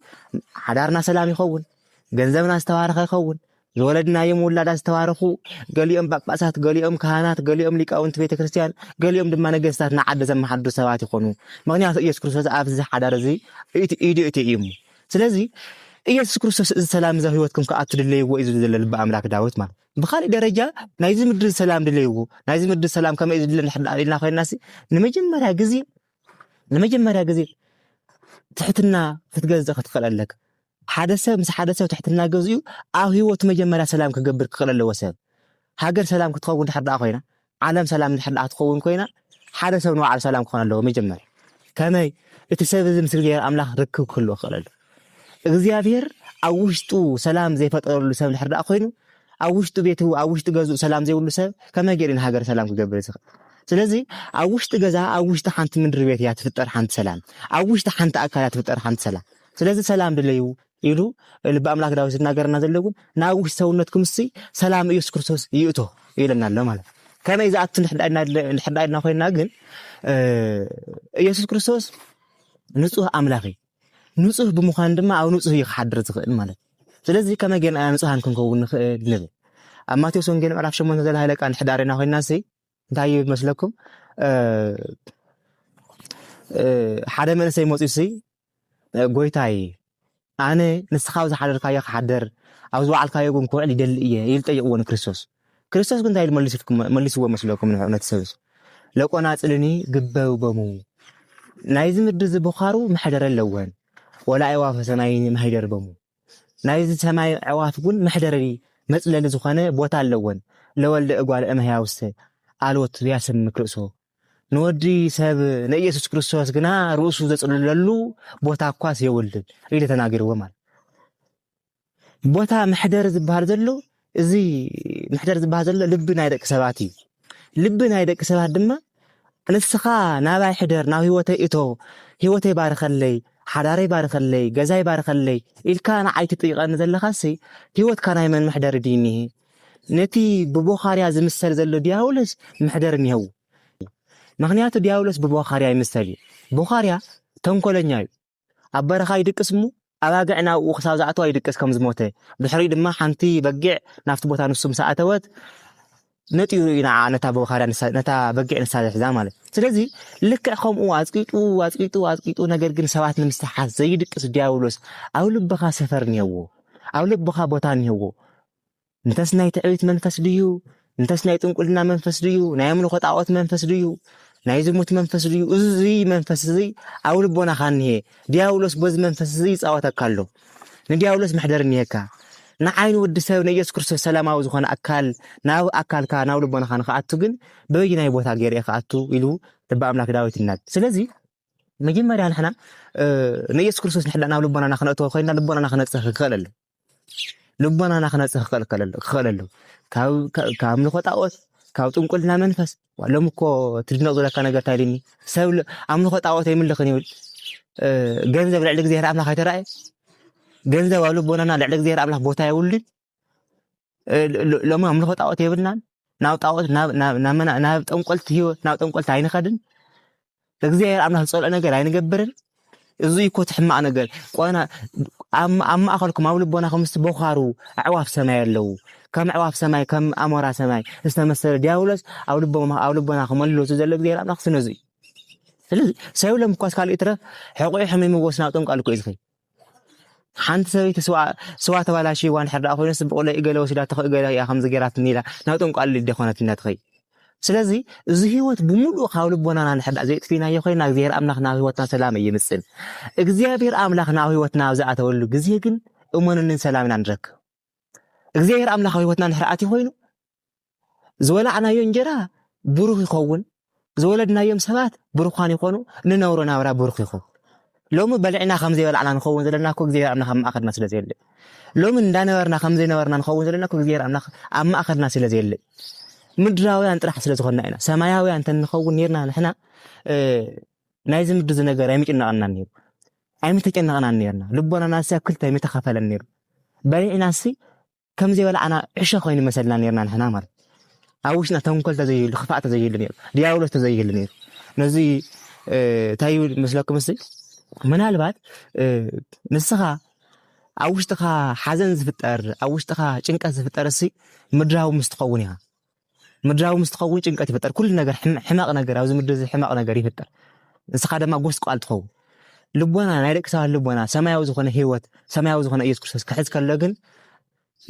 ሓዳርና ሰላም ይኸውን ገንዘብና ዝተባረኸ ይኸውን ዝወለድናዮም ውላዳ ዝተባረኹ ገሊኦም ጳጳሳት ገሊኦም ካህናት ገሊኦም ሊቃውንቲ ቤተ ክርስቲያን ገሊኦም ድማ ነገስታት ንዓዲ ዘመሓድሩ ሰባት ይኾኑ ምክንያቱ ኢየሱስ ክርስቶስ ኣብዚ ሓዳር እዚ ኢዱ እቲ እዩ ስለዚ ኢየሱስ ክርስቶስ እዚ ሰላም እዚ ህይወትኩም ክኣቱ ድለይዎ እዩ ዝብል ዘሎ ልቢ ኣምላክ ዳዊት ማለት ብካልእ ደረጃ ናይዚ ምድሪ ሰላም ድለይዎ ናይዚ ምድሪ ሰላም ከመይ ዝድለ ኢልና ኮይና ንመጀመርያ ግዜ ንመጀመርያ ግዜ ትሕትና ክትገዝእ ክትክእል ኣለካ ሓደ ሰብ ምስ ሓደ ሰብ ትሕትና ገዝኡ ኣብ ሂወቱ መጀመርያ ሰላም ክገብር ክክእል ኣለዎ ሰብ ሃገር ሰላም ክትኸውን ድሕር ደኣ ኮይና ዓለም ሰላም እንድሕር ደኣ ክትኸውን ኮይና፣ ሓደ ሰብ ንባዕሉ ሰላም ክኾን ኣለዎ መጀመርያ። ከመይ? እቲ ሰብ እዚ ምስ እግዚኣብሔር ኣምላኽ ርክብ ክህልዎ ክኽእል ኣለዎ። እግዚኣብሔር ኣብ ውሽጡ ሰላም ዘይፈጠረሉ ሰብ እንድሕር ደኣ ኮይኑ፣ ኣብ ውሽጡ ቤቱ ኣብ ውሽጢ ገዝኡ ሰላም ዘይብሉ ሰብ ከመይ ገይሩ ንሃገር ሰላም ክገብር ዝኽእል? ስለዚ ኣብ ውሽጢ ገዛ ኣብ ውሽጢ ሓንቲ ምድሪ ቤት እያ ትፍጠር ሓንቲ ሰላም፣ ኣብ ውሽጢ ሓንቲ ኣካል እያ ትፍጠር ሓንቲ ሰላም። ስለዚ ሰላም ድለዩ፣ ኢሉ ልቢ ኣምላክ ዳዊት ዝናገረና ዘሎ ግን ናብ ውሽጢ ሰውነትኩም ሲ ሰላም ኢየሱስ ክርስቶስ ይእቶ ይብለና ኣሎ ማለት ከመይ ዝኣቱ ንሕዳ ኢልና ኮይና ግን ኢየሱስ ክርስቶስ ንጹህ ኣምላኽ እዩ ንጹህ ብምዃን ድማ ኣብ ንጹህ እዩ ክሓድር ዝኽእል ማለት ስለዚ ከመይ ጌርና ንጹሃን ክንከውን ንኽእል ንብል ኣብ ማቴዎስ ወንጌል ምዕራፍ 8 ዘላ ሃይለ ቃል ንሕዳሪና ኮይና ሲ እንታይ እዩ መስለኩም ሓደ መንሰይ መፅኡ ሲ ጎይታይ ኣነ ንስኻ ኣብ ዝሓደርካዮ ክሓደር ኣብ ዝበዓልካዮ ግን ክውዕል ይደሊ እየ ኢሉ ጠይቕዎ ንክርስቶስ ክርስቶስ ግን እንታይ ኢሉ መሊስዎ መስለኩም ንሕነት ሰብስ ለቆናፅልኒ ግበብበሙ ናይዚ ምድሪ ዝብኻሩ መሕደረ ኣለወን ወላ ኣይዋፈሰናይ መሕደር በሙ ናይዚ ሰማይ ኣዕዋፍ ውን መሕደሪ መጽለሊ ዝኾነ ቦታ ኣለወን። ለወልደ እጓለ እመሕያውሰ ኣልቦ ትብያ ሰብ ምክርእሶ። ንወዲ ሰብ ንኢየሱስ ክርስቶስ ግና ርእሱ ዘጽልለሉ ቦታ እኳስ የውልን ኢለ ተናጊርዎም ኣለ። ቦታ መሕደሪ ዝበሃል ዘሎ እዚ ምሕደር ዝበሃል ዘሎ ልቢ ናይ ደቂ ሰባት እዩ ልቢ ናይ ደቂ ሰባት ድማ ንስኻ ናባይ ሕደር ናብ ህይወተይ እቶ ህይወተይ ባርኸለይ ሓዳረይ ባርኸለይ ገዛይ ባርኸለይ ኢልካ ንዓይ ትጥይቐኒ ዘለኻሲ ህይወትካ ናይ መን መሕደሪ ድዩ እኒሀ ነቲ ብቦኻርያ ዝምሰል ዘሎ ዲያብሎስ መሕደሪ እኒሀው ምክንያቱ ዲያብሎስ ብቦኻርያ ይምሰል እዩ ቦኻርያ ተንኮለኛ እዩ ኣብ በረኻ ይድቅስ እሞ ኣባግዕ ናብኡ ክሳብ ዝኣተዋ ይድቅስ ከም ዝሞተ ድሕሪኡ ድማ ሓንቲ በጊዕ ናብቲ ቦታ ንሱ ምስ ኣተወት ነጢሩ እዩ ንዓ ነታ በኻርያ ነታ በጊዕ ንሳ ዝሕዛ ማለት ስለዚ ልክዕ ከምኡ ኣፅቂጡ ኣፅቂጡ ኣፅቂጡ ነገር ግን ሰባት ንምስሓት ዘይድቅስ ዲያብሎስ ኣብ ልብኻ ሰፈር እኒሄዎ ኣብ ልብኻ ቦታ እኒሄዎ እንተስ ናይ ትዕቢት መንፈስ ድዩ እንተስ ናይ ጥንቁልና መንፈስ ድዩ ናይ ኣምልኾ ጣዖት መንፈስ ድዩ ናይ ዝሙት መንፈስ ድዩ እዚ መንፈስ እዚ ኣብ ልቦናኻ እኒሀ ዲያብሎስ በዚ መንፈስ እዚ ይፃወተካ ኣሎ ንዲያብሎስ መሕደር እኒሄካ ንዓይኒ ወዲ ሰብ ንኢየሱስ ክርስቶስ ሰላማዊ ዝኾነ ኣካል ናብ ኣካልካ ናብ ልቦናኻ ንክኣቱ ግን በበይናይ ቦታ ገይረ ክኣቱ ኢሉ ልቢ ኣምላክ ዳዊት ይናድ ስለዚ መጀመርያ ንሕና ንኢየሱስ ክርስቶስ ንሕና ናብ ልቦናና ክነእተወ ኮይና ልቦናና ክነፅህ ክኽእል ኣሎ ልቦናና ክነጽህ ክኸለሉ ካብ ኣምልኾ ጣዖት ካብ ጥንቁልና መንፈስ ሎም እኮ ትድነቕ ዝለካ ነገር እንታይ ድኒ ሰብ ኣምልኾ ጣዖት ኣይምልኽን ይብል ገንዘብ ልዕሊ እግዚኣብሔር ኣምላኽ ኣይተረኣየ ገንዘብ ኣብ ልቦናና ልዕሊ እግዚኣብሔር ኣምላኽ ቦታ የብሉን ሎሚ ኣምልኾ ጣዖት የብልናን ናብ ጣዖት ናብ ጠንቆልቲ ህይወት ናብ ጠንቆልቲ ኣይንኸድን እግዚኣብሔር ኣምላኽ ዝፀልኦ ነገር ኣይንገብርን እዚ እኮ እቲ ሕማቕ ነገር ቆና ኣብ ማእኸልኩም ኣብ ልቦናኹም ምስቲ ቦኻሩ ኣዕዋፍ ሰማይ ኣለዉ ከም ኣዕዋፍ ሰማይ ከም ኣሞራ ሰማይ ዝተመሰለ ዲያብሎስ ኣብ ልቦና ክመልሎ ዘሎ እግዚኣብሔር ኣምላኽ ስነዙ እዩ ስለዚ ሰብሎም እኳስ ካልእ ይትረፍ ሕቑሑ ሕሚምዎስ ናብ ጠንቋል እኮ እዩ ዝኸይ ሓንቲ ሰበይቲ ስዋ ተባላሽይዋ እንድሕር ደኣ ኮይኑ ስብቑለ እገለ ወሲዳቶ እገለ እያ ከምዚ ገይራትኒ ኢላ ናብ ጠንቋሊ ልደ ኮነትና ትኸይ ስለዚ እዚ ህይወት ብምሉእ ካብ ልቦናና ንሕዳ ዘየጥፊናዮ ኮይና እግዚኣብሔር ኣምላኽ ናብ ህይወትና ሰላም እይምፅን። እግዚኣብሔር ኣምላኽ ናብ ህይወትና ኣብ ዝኣተወሉ ግዜ ግን እመኑንን ሰላም ኢና ንረክብ። እግዚኣብሔር ኣምላኽ ኣብ ህይወትና እንድሕር ኣትዩ ኮይኑ ዝወላዕናዮ እንጀራ ብሩኽ ይኸውን፣ ዝወለድናዮም ሰባት ብሩኻን ይኾኑ፣ ንነብሮ ናብራ ብሩኽ ይኹን። ሎሚ በሊዕና ከም ዘይበላዕና ንኸውን ዘለና እኮ እግዚኣብሔር ኣምላኽ ኣብ ማእኸልና ስለ ዘየለ ሎሚ እንዳነበርና ከም ዘይነበርና ንኸውን ዘለና እኮ እግዚኣብሔር ኣምላኽ ኣብ ማእኸልና ስለ ዘየለ ምድራውያን ጥራሕ ስለ ዝኾንና ኢና። ሰማያውያን እንተንኸውን ኔርና ንሕና ናይዚ ምድሪ ዝነገር ኣይምጭናቐናን ነይሩ። ኣይምተጨነቕናን ኔርና፣ ልቦናናሲ ኣብ ክልተ ኣይምተኸፈለን ኔሩ፣ በሊዕናሲ ከም ዘይበላዕና ዕሸ ኮይኑ መሰልና ኔርና ንሕና ማለት እዩ። ኣብ ውሽጥና ተንኮል ተዘይህሉ ክፋእ ተዘይህሉ ኔሩ፣ ዲያብሎስ ተዘይህሉ ኔሩ ነዚ እንታይ ይብል መስለኩም እስቲ ምናልባት ንስኻ ኣብ ውሽጥኻ ሓዘን ዝፍጠር ኣብ ውሽጥኻ ጭንቀት ዝፍጠር እሲ ምድራዊ ምስ ትኸውን ኢኻ ምድራዊ ምስ ትኸውን ጭንቀት ይፍጠር። ኩሉ ነገር ሕማቕ ነገር ኣብዚ ምድሪ እዚ ሕማቕ ነገር ይፍጠር። ንስኻ ድማ ጎስቋል ትኸውን። ልቦና ናይ ደቂ ሰባት ልቦና ሰማያዊ ዝኾነ ህይወት ሰማያዊ ዝኾነ ኢየሱስ ክርስቶስ ክሕዝ ከሎ ግን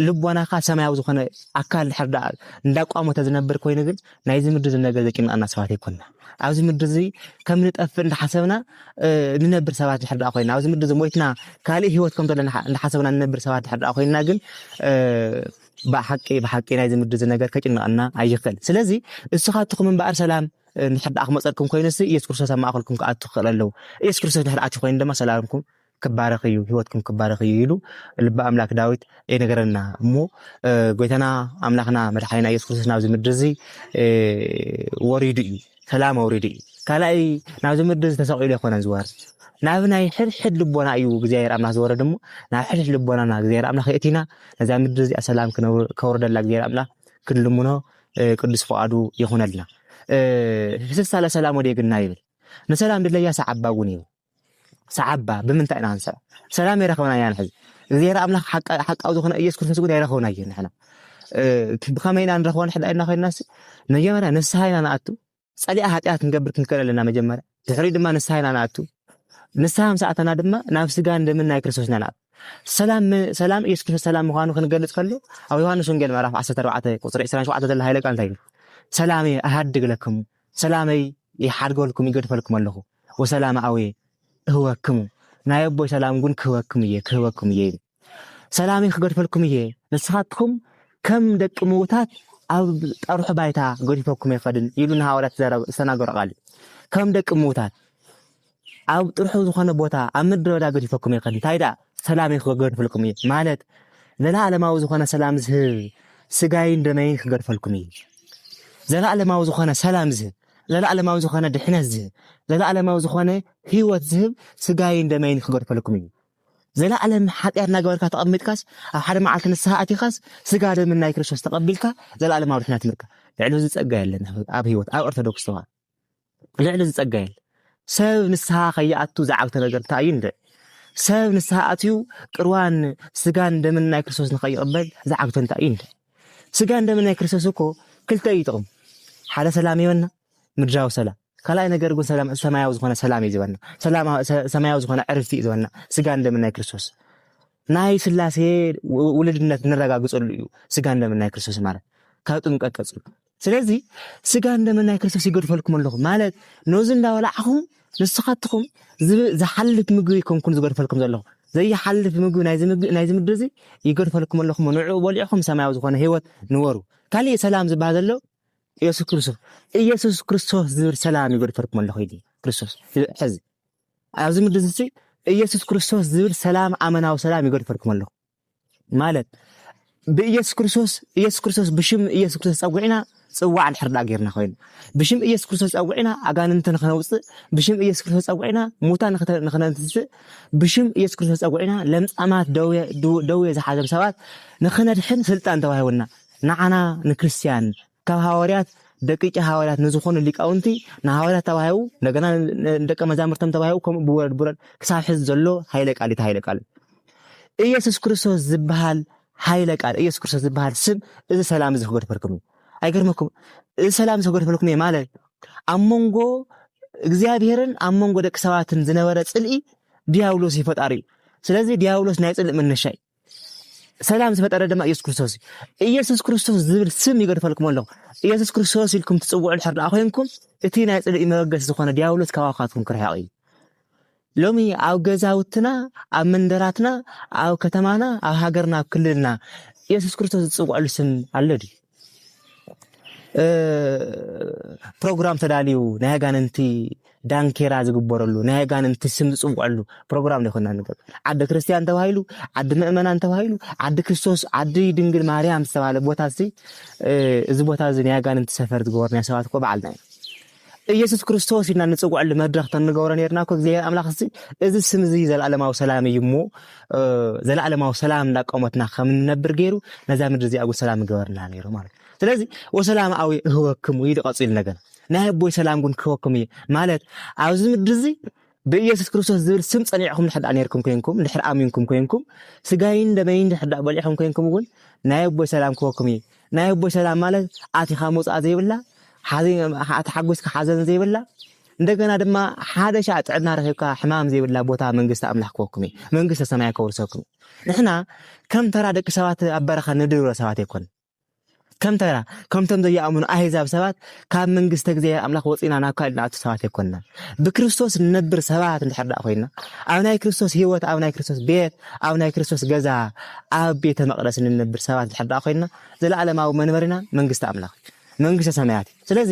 ልቦናኻ ሰማያዊ ዝኾነ ኣካል ድሕር ደኣ እንዳቋመተ ዝነብር ኮይኑ ግን ናይዚ ምድሪ እዚ ነገር ዘጭንቐና ሰባት ኣይኮንና ኣብዚ ምድሪ እዚ ከም ንጠፍእ እንዳሓሰብና ንነብር ሰባት ድሕር ደኣ ኮይና ኣብዚ ምድሪ እዚ ሞይትና ካልእ ህይወት ከም ዘለና እንዳሓሰብና ንነብር ሰባት ድሕር ደኣ ኮይና ግን ብሓቂ ብሓቂ ናይዚ ምድዚ ነገር ከጭንቐና ኣይኽእል ስለዚ እስኻትኹም እምበኣር ሰላም እንድሕር ደኣ ክመፀልኩም ኮይኑሲ ኢየሱስ ክርስቶስ ኣብ ማእኸልኩም ክኣቱ ክኽእል ኣለዎ ኢየሱስ ክርስቶስ ድሕር ኣትዩ ኮይኑ ድማ ሰላምኩም ክባረኽ እዩ ህይወትኩም ክባረኽ እዩ ኢሉ ልቢ ኣምላክ ዳዊት ይነገረና እሞ ጎይታና ኣምላኽና መድሓኒና ኢየሱስ ክርስቶስ ናብዚ ምድሪ እዚ ወሪዱ እዩ ሰላም ኣውሪዱ እዩ። ካልኣይ ናብዚ ምድሪ ዝተሰቂሉ ኣይኮነን ዝወርድ ናብ ናይ ሕድሕድ ልቦና እዩ እግዚኣብሔር ኣምላክ ዝወረድ እሞ ናብ ሕድሕድ ልቦናና እግዚኣብሔር ኣምላክ የእቲና ነዛ ምድሪ እዚኣ ሰላም ከውርደላ እግዚኣብሔር ኣምላክ ክንልምኖ ቅዱስ ፍቃዱ ይኹነልና። ህስሳለ ሰላም ወደ ግና ይብል ንሰላም ድለያ ሰዓባጉን ይብል ሰዓባ ብምንታይ ኢና ክንሰዕ ሰላም የረኸብና ኢና ንሕዚ እግዚኣብሔር ኣምላኽ ሓቃዊ ዝኾነ ኢየሱስ ክርስቶስ ግን የረኸብና እዩ ንሕና ብኸመይ ኢና ንረኽቦ ንሕዳ ኢልና ኮይንናስ መጀመርያ ንስሓ ኢና ንኣቱ ጸሊኣ ሓጢኣት ክንገብር ክንከል ኣለና መጀመርያ ድሕሪ ድማ ንስሓ ኢና ንኣቱ ንስሓ ምስ ኣተና ድማ ናብ ስጋን ደምን ናይ ክርስቶስ ኢና ንኣቱ ሰላም ሰላም ኢየሱስ ክርስቶስ ሰላም ምዃኑ ክንገልጽ ከሎ ኣብ ዮሃንስ ወንጌል ምዕራፍ 14 ቁጽሪ 27 ዘሎ ሃይለ ቃል እንታይ እዩ ሰላም ኣሃድግ ለክሙ ሰላመይ ይሓድገልኩም ይገድፈልኩም ኣለኹ ወሰላም ኣውየ እህበክሙ ናይ ኣቦይ ሰላም ጉን ክህበክም እየ ክህበክም እየ ኢሉ ሰላምይ ክገድፈልኩም እየ ንስኻትኩም ከም ደቂ ምውታት ኣብ ጠርሑ ባይታ ገዲፈኩም ኣይኸድን ኢሉ ንሃዋርያት ዝተናገሮ ቃል እዩ ከም ደቂ ምውታት ኣብ ጥርሑ ዝኾነ ቦታ ኣብ ምድረ በዳ ገዲፈኩም ይኸን እንታይ ደኣ ሰላም ክገድፈልኩም እዩ ማለት ዘለኣለማዊ ዝኾነ ሰላም ዝህብ ስጋይን ደመይን ክገድፈልኩም እዩ ዘለኣለማዊ ዝኾነ ሰላም ዝህብ ዘለኣለማዊ ዝኾነ ድሕነት ዝህብ ዘለኣለማዊ ዝኾነ ህይወት ዝህብ ስጋይን ደመይን ክገድፈለኩም እዩ ዘለኣለም ሓጢኣት እናገበርካ ተቐሚጥካስ ኣብ ሓደ መዓልቲ ንስሓ ኣቲኻስ ስጋ ደምን ናይ ክርስቶስ ተቐቢልካ ዘለኣለማዊ ድሕነት ምርካ ልዕሊ እዚ ጸጋ የለን ኣብ ህይወት ኣብ ኦርቶዶክስ ተዋህዶ ልዕሊ እዚ ጸጋ የለን ሰብ ንስሓ ከይኣቱ ዝዓግተ ነገር እንታይ እዩ ንርኢ ሰብ ንስሓ ኣትዩ ቅርዋን ስጋን ደምን ናይ ክርስቶስ ንኸይቕበል ዝዓግተ እንታይ እዩ ንርኢ ስጋን ደምን ናይ ክርስቶስ እኮ ክልተ እዩ ጥቕሙ ሓደ ሰላም ይህበና ምድራዊ ሰላም ካልኣይ ነገር ግን ሰላም ሰማያዊ ዝኾነ ሰላም እዩ ዝበና ሰላም ሰማያዊ ዝኾነ ዕርፍቲ እዩ ዝበና ስጋን ደምን ናይ ክርስቶስ ናይ ስላሴ ውልድነት ንረጋግጸሉ እዩ ስጋን ደምን ናይ ክርስቶስ ማለት ካብ ጥምቀት ቀጽሉ ስለዚ ስጋን ደምን ናይ ክርስቶስ ይገድፈልኩም ኣለኹ ማለት ነዚ እንዳበላዕኹም ንስኻትኹም ዝሓልፍ ምግቢ ይከንኩን ዝገድፈልኩም ዘለኹ ዘይሓልፍ ምግቢ ናይዚ ምድሪ እዚ ይገድፈልኩም ኣለኹ ንዕኡ በሊዕኹም ሰማያዊ ዝኾነ ህይወት ንበሩ ካሊእ ሰላም ዝበሃል ዘሎ ኢየሱስ ክርስቶስ ኢየሱስ ክርስቶስ ዝብል ሰላም ይገድፈልኩም ኣለኹ ኢሉ ክርስቶስ ሕዚ ኣብዚ ምድሪ እዚ ኢየሱስ ክርስቶስ ዝብል ሰላም ኣመናዊ ሰላም ይገድፈልኩም ኣለኹ ማለት ብኢየሱስ ክርስቶስ ኢየሱስ ክርስቶስ ብሽም ኢየሱስ ክርስቶስ ጸዊዕና ጽዋዕ ድሕር ድኣ ጌርና ኮይኑ ብሽም ኢየሱስ ክርስቶስ ጸዊዕና ኣጋንንቲ ንኸነውጽእ ብሽም ኢየሱስ ክርስቶስ ጸዊዕና ሙታን ንኸነትንስእ ብሽም ኢየሱስ ክርስቶስ ጸዊዕና ለምጻማት ደዌ ዝሓዘም ሰባት ንኸነድሕን ስልጣን ተዋሂቡና ንዓና ንክርስትያን ካብ ሃዋርያት ደቂቂ ሃዋርያት ንዝኾኑ ሊቃውንቲ ንሃዋርያት ተባሂቡ እንደገና ንደቀ መዛሙርቶም ተባሂቡ ከምኡ ብወረድ ብወረድ ክሳብ ሕዚ ዘሎ ሃይለ ቃል እቲ ሃይለ ቃል ኢየሱስ ክርስቶስ ዝበሃል ሃይለ ቃል ኢየሱስ ክርስቶስ ዝበሃል ስም እዚ ሰላም እዚ ክገድፈልኩም እዩ ኣይገርመኩም እዚ ሰላም እዚ ክገድፈልኩም እየ ማለት ኣብ መንጎ እግዚኣብሔርን ኣብ መንጎ ደቂ ሰባትን ዝነበረ ፅልኢ ዲያብሎስ ይፈጣሪ እዩ ስለዚ ዲያብሎስ ናይ ፅልእ መነሻ እዩ ሰላም ዝፈጠረ ድማ ኢየሱስ ክርስቶስ እዩ። ኢየሱስ ክርስቶስ ዝብል ስም ይገድፈልኩም ኣለኹ። ኢየሱስ ክርስቶስ ኢልኩም ትጽውዑ ድሕር ደኣ ኮይንኩም እቲ ናይ ጽልኢ መበገሲ ዝኾነ ዲያብሎስ ካባኻትኩም ክርሕቕ እዩ። ሎሚ ኣብ ገዛውትና፣ ኣብ መንደራትና፣ ኣብ ከተማና፣ ኣብ ሃገርና፣ ኣብ ክልልና ኢየሱስ ክርስቶስ ዝጽውዐሉ ስም ኣሎ ድዩ? ፕሮግራም ተዳልዩ ናይ ኣጋንንቲ ዳንኬራ ዝግበረሉ ናይ ኣጋንንቲ ስም ዝፅውዐሉ ፕሮግራም ዘይኮና ንገብ ዓዲ ክርስቲያን ተባሂሉ ዓዲ ምእመናን ተባሂሉ ዓዲ ክርስቶስ ዓዲ ድንግል ማርያም ዝተባሃለ ቦታ እዚ ቦታ እዚ ናይ ኣጋንንቲ ሰፈር ዝገበሩ ናይ ሰባት እኮ በዓልና እዩ እየሱስ ክርስቶስ ኢልና ንጽውዐሉ መድረኽ ተንገብሮ ነርና እኮ እግዚኣብሔር ኣምላኽ እዚ እዚ ስም እዚ ዘለኣለማዊ ሰላም እዩ እሞ ዘለኣለማዊ ሰላም እንዳቆመትና ከም እንነብር ገይሩ ነዛ ምድሪ እዚኣ እውን ሰላም ገበርና ነይሩ ማለት እዩ ስለዚ ወሰላም ኣዊ እህወክሙ ኢሉ ቀጺሉ ነገር ናይ ኣቦይ ሰላም ግን ክህወክሙ እዩ ማለት ኣብዚ ምድሪ እዚ ብኢየሱስ ክርስቶስ ዝብል ስም ጸኒዕኩም ድሕር ደኣ ኔርኩም ኮይንኩም ድሕር ኣሚንኩም ኮይንኩም ስጋይን ደመይን ድሕር ደኣ በሊዕኩም ኮይንኩም እውን ናይ ኣቦይ ሰላም ክወኩም እዩ ናይ ኣቦይ ሰላም ማለት ኣቲኻ መውጽኣ ዘይብላ ተሓጒስካ ሓዘን ዘይብላ እንደገና ድማ ሓደ ሻዕ ጥዕና ረኺብካ ሕማም ዘይብላ ቦታ መንግስቲ ኣምላኽ ክወኩም እዩ መንግስተ ሰማይ ከውርሰኩም ንሕና ከም ተራ ደቂ ሰባት ኣብ በረኻ ንድሮ ሰባት ኣይኮን ከም ተራ ከምቶም ዘይኣምኑ ኣህዛብ ሰባት ካብ መንግስተ እግዚኣብሔር ኣምላኽ ወፂና ናብ ካልእ ንኣቱ ሰባት ኣይኮንናን። ብክርስቶስ ንነብር ሰባት እንድሕር ደኣ ኮይና ኣብ ናይ ክርስቶስ ህይወት፣ ኣብ ናይ ክርስቶስ ቤት፣ ኣብ ናይ ክርስቶስ ገዛ፣ ኣብ ቤተ መቅደስ ንነብር ሰባት እንድሕር ደኣ ኮይና ዘለዓለማዊ መንበሪና መንግስቲ ኣምላኽ እዩ፣ መንግስተ ሰማያት እዩ። ስለዚ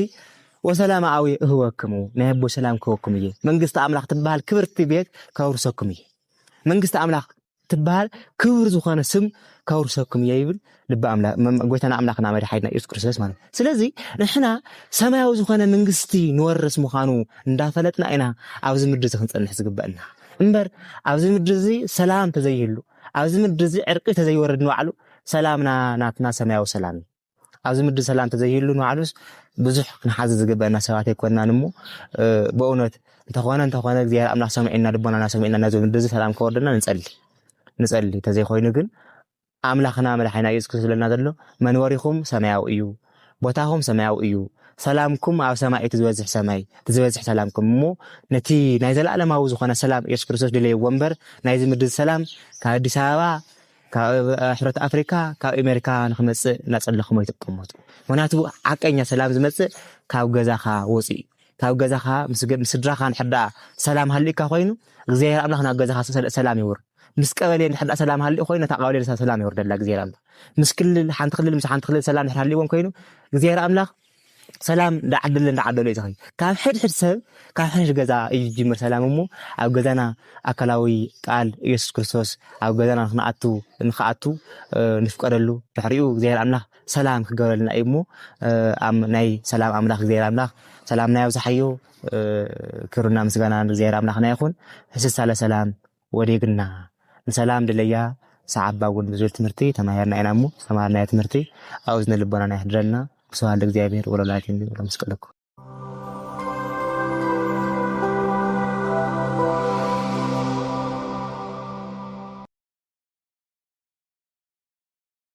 ወሰላም ኣዊ እህወክሙ ናይ ኣቦ ሰላም ክህወኩም እየ። መንግስቲ ኣምላኽ ትበሃል ክብርቲ ቤት ከውርሰኩም እየ። መንግስቲ ኣምላኽ ትበሃል ክብር ዝኾነ ስም ከውርሰኩም እየ ይብል ልቢ ኣምላክ ጎይታና ኣምላክና መድሓኒትና ኢየሱስ ክርስቶስ ማለት እዩ። ስለዚ ንሕና ሰማያዊ ዝኾነ መንግስቲ ንወርስ ምዃኑ እንዳፈለጥና ኢና ኣብዚ ምድሪ እዚ ክንጸንሕ ዝግበአና እምበር ኣብዚ ምድሪ እዚ ሰላም ተዘይህሉ ኣብዚ ምድሪ እዚ ዕርቂ ተዘይወርድ ንባዕሉ ሰላምና ናትና ሰማያዊ ሰላም እዩ። ኣብዚ ምድሪ ሰላም ተዘይህሉ ንባዕሉስ ብዙሕ ክንሓዝ ዝግበአና ሰባት ኣይኮናን እሞ በእውነት እንተኾነ እንተኾነ እግዚኣብሔር ኣምላኽ ሰሚዕና ልቦናና ሰሚዕና ናዚ ምድሪ እዚ ሰላም ከወርደና ንጸሊ ንጸሊ እንተዘይኮይኑ ግን ኣምላኽና መድሓኒና ኢየሱስ ክርስቶስ ዝብለና ዘሎ መንበሪኹም ሰማያዊ እዩ ቦታኹም ሰማያዊ እዩ ሰላምኩም ኣብ ሰማይ እቲ ዝበዝሕ ሰማይ እቲ ዝበዝሕ ሰላምኩም እሞ ነቲ ናይ ዘለኣለማዊ ዝኾነ ሰላም ኢየሱስ ክርስቶስ ድለይዎ እምበር ናይዚ ምድሪ ሰላም ካብ ኣዲስ ኣበባ ካብ ሕብረት ኣፍሪካ ካብ ኤሜሪካ ንክመፅእ እናፀለክሞ ኣይትቀመጡ ምክንያቱ ሓቀኛ ሰላም ዝመፅእ ካብ ገዛካ ወፂኡ እዩ ካብ ገዛካ ምስ ምስ ስድራካ እንድሕር ደኣ ሰላም ሃሊእካ ኮይኑ እግዚኣብሔር ኣምላክ ናብ ገዛካ ሰ- ሰላም የውርድ ምስ ቀበሌ እንድሕር ደኣ ሰላም ሃሊኡ ኮይኑ ነታ ቀበሌ ሰላም የውርደላ እግዚኣብሔር ኣምላክ ምስ ክልል ሓንቲ ክልል ምስ ሓንቲ ክልል ሰላም እንድሕር ሃሊዎም ኮይኑ እግዚኣብሔር ኣምላክ ሰላም እንዳዓደለ እንዳዓደለ እዩ ዝኸይድ። ካብ ሕድሕድ ሰብ ካብ ሕድሕድ ገዛ እዩ ዝጅምር ሰላም እሞ ኣብ ገዛና ኣካላዊ ቃል ኢየሱስ ክርስቶስ ኣብ ገዛና ንክንኣቱ ንክኣቱ ንፍቀደሉ ድሕሪኡ እግዚኣብሔር ኣምላኽ ሰላም ክገብረልና እዩ እሞ ናይ ሰላም ኣምላኽ እግዚኣብሔር ኣምላኽ ሰላምና ያብዝሓዮ ክብርና ምስጋና ንእግዚኣብሔር ኣምላኽና ይኹን። ህስሳለ ሰላም ወዴግና ንሰላም ድለያ ሰዓባ እውን ብዙል ትምህርቲ ተማሂርና ኢና እሞ ዝተማሃርናዮ ትምህርቲ ኣብ እዝነ ልቦናና የሕድረልና ብስብሃት ለእግዚኣብሔር ወለወላዲቱ ድንግል ወለመስቀሉ ክቡር